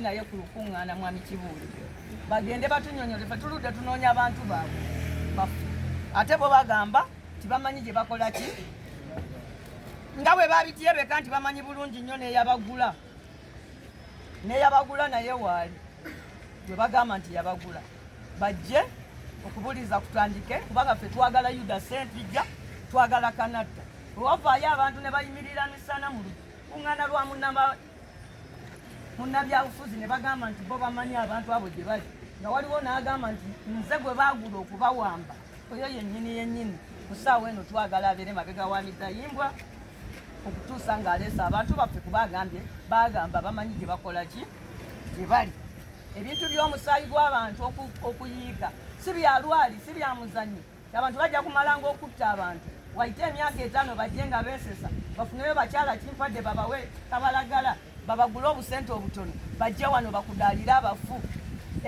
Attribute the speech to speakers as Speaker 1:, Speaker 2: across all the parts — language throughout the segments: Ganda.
Speaker 1: naye ku lukuŋŋaana mwami kibuuli bagende batunyonyole fe tuludde tunoonya abantu baabwe bafu ate bo bagamba nti bamanyi gye bakola ki nga bwe babityebeka nti bamanyi bulungi nnyo neyabagula neyabagula naye waali gwe bagamba nti yabagula bajje okubuliza kutandike kubanga fe twagala yuda sentijja twagala kanatta owavaayo abantu ne bayimirira misana mu lukuŋŋaana lwa munama munnabyabufuzi ne bagamba nti bo bamanyi abantu abo gye bali nga waliwo n'agamba nti nze gwe baagula okubawamba oyo yennyini yennyini ku ssaawa eno twagala abeere mabega wa midayimbwa okutuusa ng'aleese abantu baffe kuba agambye baagamba bamanyi gye bakola ki gye bali ebintu by'omusaayi gw'abantu okuyiika si bya lwali si bya muzanyo abantu bajja kumalanga okutta abantu waite emyaka etaano bajje nga beesesa bafuneyo bakyala kimpadde babawe kabalagala babagule obusente obutono bajje wano bakudaalire abafu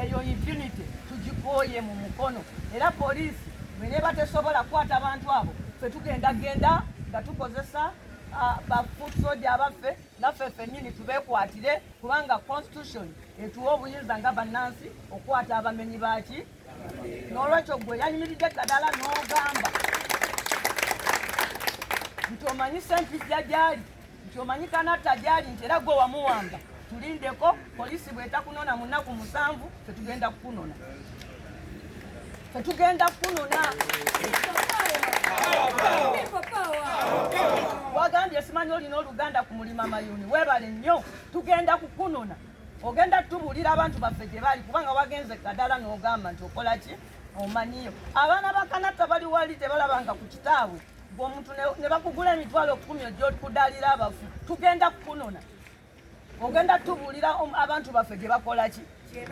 Speaker 1: eyo impunity tugikooye mu mukono era poliisi bweneba tesobola kukwata abantu abo fe tugenda genda nga tukozesa bafoot soja abaffe naffe ffennyini tubeekwatire kubanga constitution etuwa obuyinza nga bannansi okukwata abamenyi baaki n'olwekyo gwe yayimiridde eddagala n'ogamba nti omanyi sempijja gyali nti omanyi kanatta gyali nti era gwe wamuwamba tulindeko poliisi bwetakunona mu nnaku musanvu fetugenda kukunona fetugenda kukunona wagambye simanyi olina oluganda ku mulima mayuni webale nnyo tugenda kukunona ogenda tubuulira abantu baffe gye bali kubanga wagenze kadala n'ogamba nti okola ki omanyiyo abaana ba kanatta bali wali tebalabanga ku kitaabwe gwomuntu ne bakugula emitwalo kumi ojokudalira abafu tugenda kukunona ogenda tubuulira abantu baffe gye bakola ki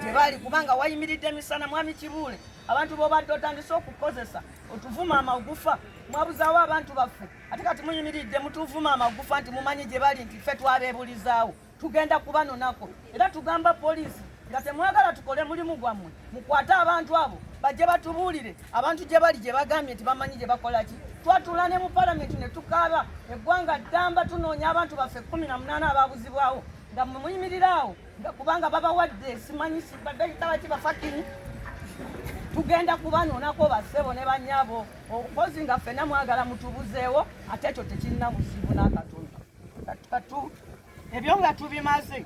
Speaker 1: gye bali kubanga wayimiridde emisana mwami kibuule abantu bobadde otandise okukozesa otuvuma amagufa mwabuzawo abantu baffe ate kati muyimiridde mutuvuma amagufa nti mumanyi gye bali nti ffe twabebulizaawo tugenda kubanonako era tugamba poliisi nga temwagala tukole mulimu gwammwe mukwate abantu abo bajje batubuulire abantu gye bali gye bagambye nti bamanyi gye bakola ki twatula ne mu palamenti ne tukaaba eggwanga ddamba tunoonya abantu baffe kkumi na munaana ababuzibwawo nga mwe muyimirira awo nga kubanga babawadde simanyi badayitaba ki bafakini tugenda kubanonako bassebo ne banyabo okozi nga ffena mwagala mutubuzeewo ate ekyo tekirina buzibu n'akatono katu ebyo nga tubimaze